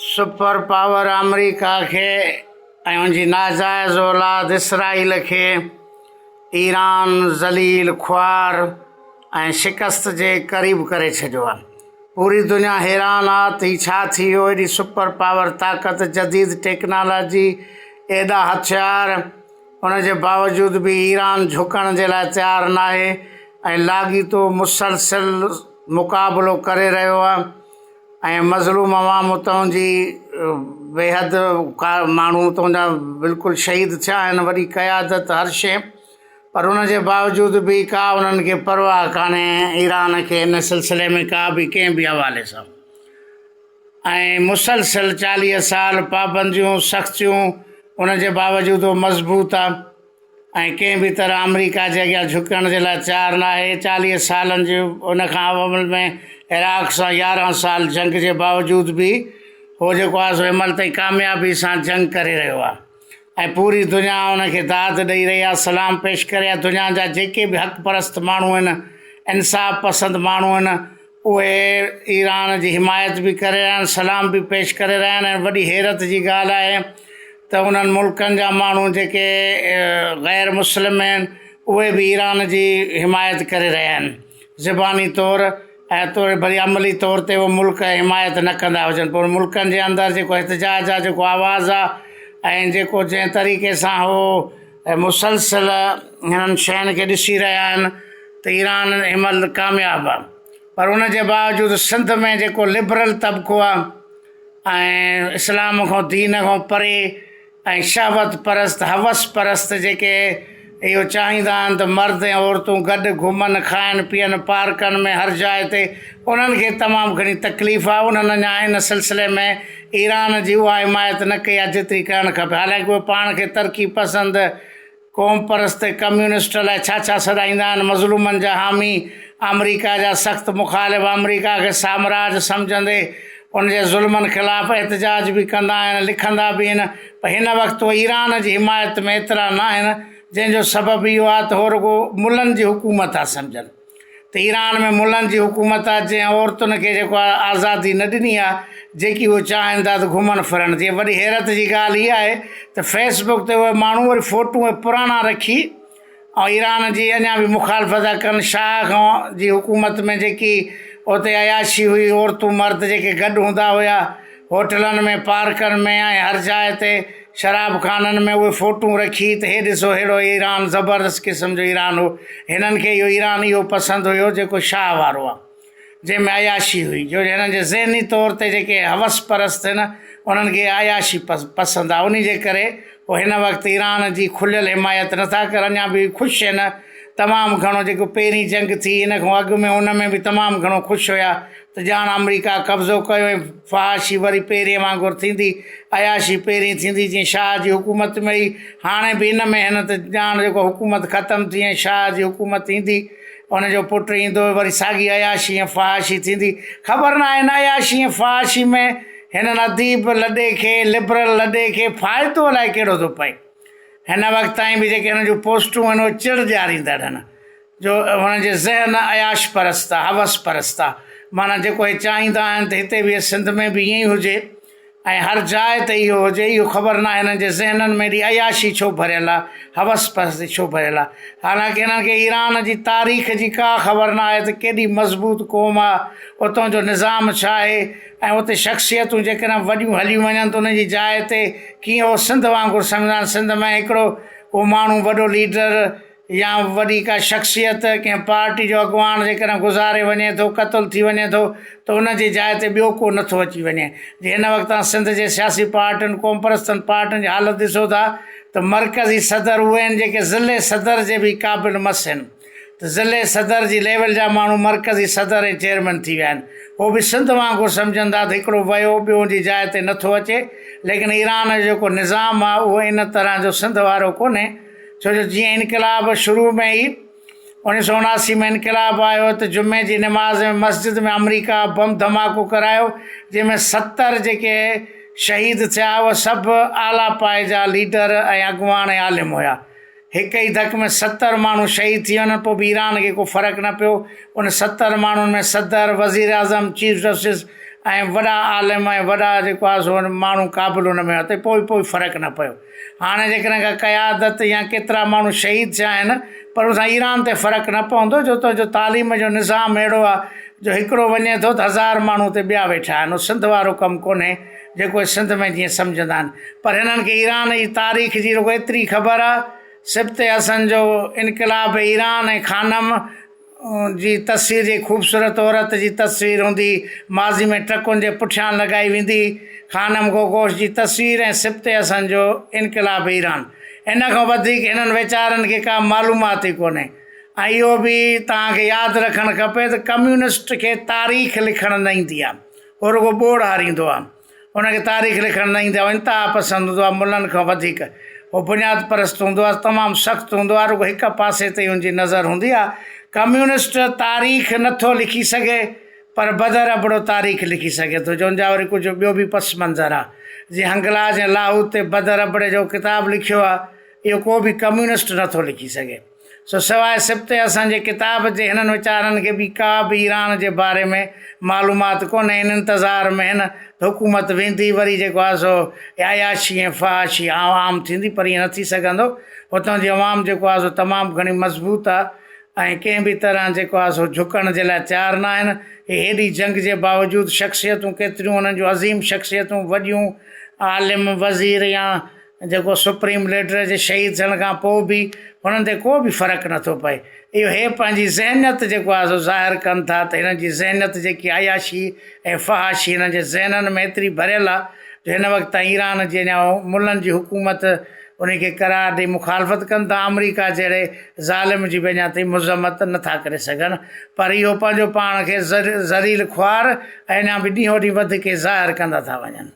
Super power آمريڪا کي ۽ ان جي ناجائز اولاد اسرائيل کي ايران ذليل خوار ۽ شڪست جي قريب ڪري ڇڏيو آ پوري دنيا حيران آ ته هي ڇا ٿي ويو ايڏي سپر پاور طاقت جديد ٽيڪنالاجي ايڏا هٿيار ان جي باوجود به ايران جهڪڻ جي لاء تيار ناهي ۽ لاڳيتو مسلسل مقابلو ڪري رهيو آهي ۽ مظلوم عوام اتان جي بيحد ماڻهو اتان جا بلڪل شهيد ٿيا آهن وڏي قيادت هر شيء پر ان جي باوجود به ڪا انهن کي پرواهه ڪانهي ايران کي ان سلسلي ۾ ڪا به ڪنهن به حوالي سان ۽ مسلسل چاليهه سال پابنديون سختيون ان جي باوجود هو مضبوط آ ۽ ڪنهن به طرح آمريڪا جي اڳيان جهڪڻ جي لاء تيار ناهي چاليهه سالن جي ان کان عمل ۾ عراق سان يارهن سال جنگ جي باوجود به هو جيڪو آ سو هنمهل تائين ڪاميابي سان جنگ ڪري رهيو آ ۽ پوري دنيا ان کي داد ڏئي رهي آهي سلام پيش ڪري آهي دنيا جا جيڪي به حق پرست ماڻهو آهن انصاف پسند ماڻهو آهن اهي ايران جي حمايت به ڪري رهيا آهن سلام به پيش ڪري رهيا آهن وڏي حيرت جي ڳالهه آهي ته انهن ملڪن جا ماڻهو جيڪي غير مسلم آهن اهي به ايران جي حمايت ڪري رهيا آهن زباني طور ۽ توڙي وري عملي طور تي اهي ملڪ حمايت نه ڪندا هجن پر ملڪن جي اندر جيڪو احتجاج آهي جيڪو آواز آهي ۽ جيڪو جنهن طريقي سان هو مسلسل هنن شين کي ڏسي رهيا آهن ته ايران ان مهل ڪامياب آهي پر ان جي باوجود سنڌ ۾ جيڪو لبرل طبقو آهي ۽ اسلام کان دين کان پري ۽ شهوت پرست، حوس پرست، جيڪي اهو چاهيندا آهن ته مرد ۽ عورتون گڏ گهمن، کائن پيئن، پارڪن ۾ هر جاء تي انهن کي تمام گهڻي تڪليف آهي. انهن اڃا ان سلسلي ۾ ايران جي اها حمايت نه ڪئي آهي جيتري ڪرڻ کپي حالانڪه اهي پاڻ کي ترقي پسند، قوم پرست ۽ ڪميونسٽ لاء ڇا ڇا سڏائيندا آهن، مظلومن جا حامي، آمريڪا جا سخت مخالف، آمريڪا کي سامراج سمجهندي ان جي ظلمن خلاف احتجاج به ڪندا آهن، لکندا به آهن پر هن وقت هو ايران جي حمايت ۾ ايترا ناهن جنهن جو سبب اهو آهي ته هو رڳو ملن جي حڪومت ٿا سمجهن. ته ايران ۾ ملن جي حڪومت آ جنهن عورتن کي جيڪو آ آزادي نه ڏني آ جيڪي هو چاهين ٿا ته گهمن ڦرن جي وڏي حيرت جي ڳالهه اها آهي ته فيس بڪ تي اهي ماڻهو وري فوٽو ۽ پراڻا رکي ۽ ايران جي اڃا به مخالفت ٿا ڪن شاهه کان جي حڪومت ۾ جيڪي اتي عياشي هئي عورتون مرد جيڪي گڏ هوندا هيا هوٽلن ۾، پارڪن ۾ ۽ هر جاء تي شراب خانن ۾ اهي فوٽون رکي ته هي ڏسو ههڙو ايران زبردست قسم جو ايران هو. هنن کي اهو ايران اهو پسند هيو جيڪو شاهه وارو آ. جنهن ۾ عياشي هئي. جو هنن جي ذهني طور تي جيڪي حوس پرست هن انهن کي اها عياشي پسند آ. انهي جي ڪري هو هن وقت ايران جي کليل حمايت نه ٿا ڪرن يا به خوش هن تمام گهڻو جيڪو پهرين جنگ ٿي ان کان اڳ ۾ ان ۾ به تمام گهڻو خوش هيا. ته ڄاڻ آمريڪا قبضو ڪيو ۽ فحاشي وري پهرين وانگر ٿيندي، عياشي پهرين ٿيندي جيئن شاهه جي حڪومت ۾ هئي، هاڻي به ان ۾ هن ته ڄاڻ جيڪو حڪومت ختم ٿي ۽ شاهه جي حڪومت ايندي، ان جو پٽ ايندو وري ساڳي عياشي ۽ فحاشي ٿيندي. خبر ناهي ان عياشي ۽ فحاشي ۾ هنن اديب لڏي کي، لبرل لڏي کي فائدو الائي ڪهڙو ٿو پئي. هن وقت تائين به جيڪي هن جون پوسٽون آهن اهي چڙ ڏياريندڙ آهن. جو هن جي ذهن عياش پرست آ حوس پرست آ معنيٰ جيڪو هي چاهيندا آهن ته هتي به سنڌ ۾ به ائين ئي هجي ۽ هر جاء تي اهو هجي اهو خبر ناهي هنن جي ذهنن ۾ ايڏي عياشي ڇو ڀريل آ حوس پرستي ڇو ڀريل آ حالانڪه هنن کي ايران جي تاريخ جي ڪا خبر ناهي ته ڪيڏي مضبوط قوم آ اتان جو نظام ڇا آهي ۽ اتي شخصيتون جيڪڏهن وڏيون هليون وڃن ته انهن جي جاء تي ڪيئن هو سنڌ وانگر سمجهندا آهن سنڌ ۾ هڪڙو ڪو ماڻهو وڏو ليڊر يا وڏي ڪا شخصيت ڪنهن پارٽي جو اڳواڻ جيڪڏهن گذاري وڃي ٿو قتل ٿي وڃي ٿو ته ان جي جاء تي ٻيو ڪو نه ٿو اچي وڃي جي هن وقت تان سنڌ جي سياسي پارٽين قومپرستن پارٽين جي حالت ڏسو ٿا ته مرڪزي صدر اهي آهن جيڪي ضلعي صدر جي به قابل مس آهن ته ضلعي صدر جي ليول جا ماڻهو مرڪزي صدر ۽ چيئرمين ٿي ويا آهن هو به سنڌ وانگر سمجهن ٿا ته هڪڙو ويو ٻيو ان جي جاء تي نه ٿو اچي ليڪن ايران جو جيڪو نظام آهي اهو ان طرح جو سنڌ وارو ڪونهي ڇو جو جيئن انقلاب شروع ۾ ئي اوڻيھ سؤ اڻاسي ۾ انقلاب آيو ته جمعي جي نماز ۾ مسجد ۾ آمريڪا بم ڌماڪو ڪرايو جنهن ۾ ستر جيڪي شهيد ٿيا اهي سڀ اعليٰ پائي جا ليڊر ۽ اڳواڻ ۽ عالم هيا هڪ ئي ڌڪ ۾ ستر ماڻهو شهيد ٿي وڃن پوء به ايران کي ڪو فرق نه پيو ان ستر ماڻهن ۾ صدر وزير اعظم چيف جسٽس ۽ وڏا عالم ۽ وڏا جيڪو آهي سو ماڻهو قابل ان ۾ هئا ته پوء به فرق نه پيو هاڻي جيڪڏهن ڪا قيادت يا ڪيترا ماڻهو شهيد ٿيا آهن پر ان سان ايران تي فرق نه پوندو جو تنهنجو تعليم جو نظام اهڙو آهي جو هڪڙو وڃي ٿو ته هزار ماڻهو اتي ٻيا ويٺا آهن اهو سنڌ وارو ڪم ڪونهي جيڪو اهي سنڌ ۾ جيئن سمجهندا آهن پر هنن کي ايران جي تاريخ جي رڳو ايتري خبر آهي سبط حسن جو انقلاب ايران ۽ خانم جي تصوير جي خوبصورت عورت جي تصوير هوندي ماضي ۾ ٽرڪن جي پٺيان لڳائي ويندي خانم گوگوش جي تصوير ۽ سبط حسن جو انقلاب ايران ان کان وڌيڪ هنن ويچارن کي ڪا معلومات ئي ڪونهي ۽ اهو به توهان کي ياد رکڻ کپي ته ڪميونسٽ کي تاريخ لکڻ نه ايندي آهي هو رڳو ٻوڙ هاريندو آهي هن کي تاريخ لکڻ نه ايندي آهي، هو انتها پسند هوندو آهي، ملن کان وڌيڪ هو بنياد پرست هوندو آهي، تمام سخت هوندو آهي، رڳو هڪ پاسي تي ئي هن جي نظر هوندي آهي، ڪميونسٽ تاريخ نه ٿو لکي سگهي پر بدر ابڙو تاريخ لکي سگهي ٿو، جون جا وري ڪجهه ٻيو به پس منظر آهي، جيئن هنگلاج ۽ لاهوت تي بدر ابڙي جهڙو ڪتاب لکيو آهي، اهو ڪو به ڪميونسٽ نه ٿو لکي سگهي. سو سواء سبتي اسان جي ڪتاب جي هنن ويچارن کي به ڪا به ايران جي باري ۾ معلومات ڪونهي ان انتظار ۾ هن ته حڪومت ويندي وري جيڪو آهي سو عياشي ۽ فحاشي عام ٿيندي پر ائين نه ٿي سگهندو هتان جي عوام جيڪو آهي سو تمام گهڻي مضبوط آهي ۽ ڪنهن به طرح جيڪو آهي سو جهڪڻ جي لاء تيار نه آهن هي هيڏي جنگ جي باوجود شخصيتون ڪيتريون انهن جون عظيم شخصيتون وڏيون عالم وزير يا جيڪو سپريم ليڊر جي شهيد ٿيڻ کان پوء به هنن تي ڪو به فرق نٿو پئي اهو هي پنهنجي ذهنيت جيڪو آهي سو ظاهر ڪن ٿا ته هنن جي ذهنيت جيڪي عياشي ۽ فحاشي هنن جي ذهنن ۾ ايتري ڀريل آهي جو هن وقت تائين ايران جي اڃا ملن جي حڪومت ان کي قرار ڏئي مخالفت ڪن ٿا آمريڪا جهڙي ظالم جي به اڃا تائين مذمت نٿا ڪري سگهن پر اهو پنهنجو پاڻ کي ذليل خوار اڃا به ڏينهون ڏينهن وڌ ڪي ظاهر ڪندا ٿا وڃن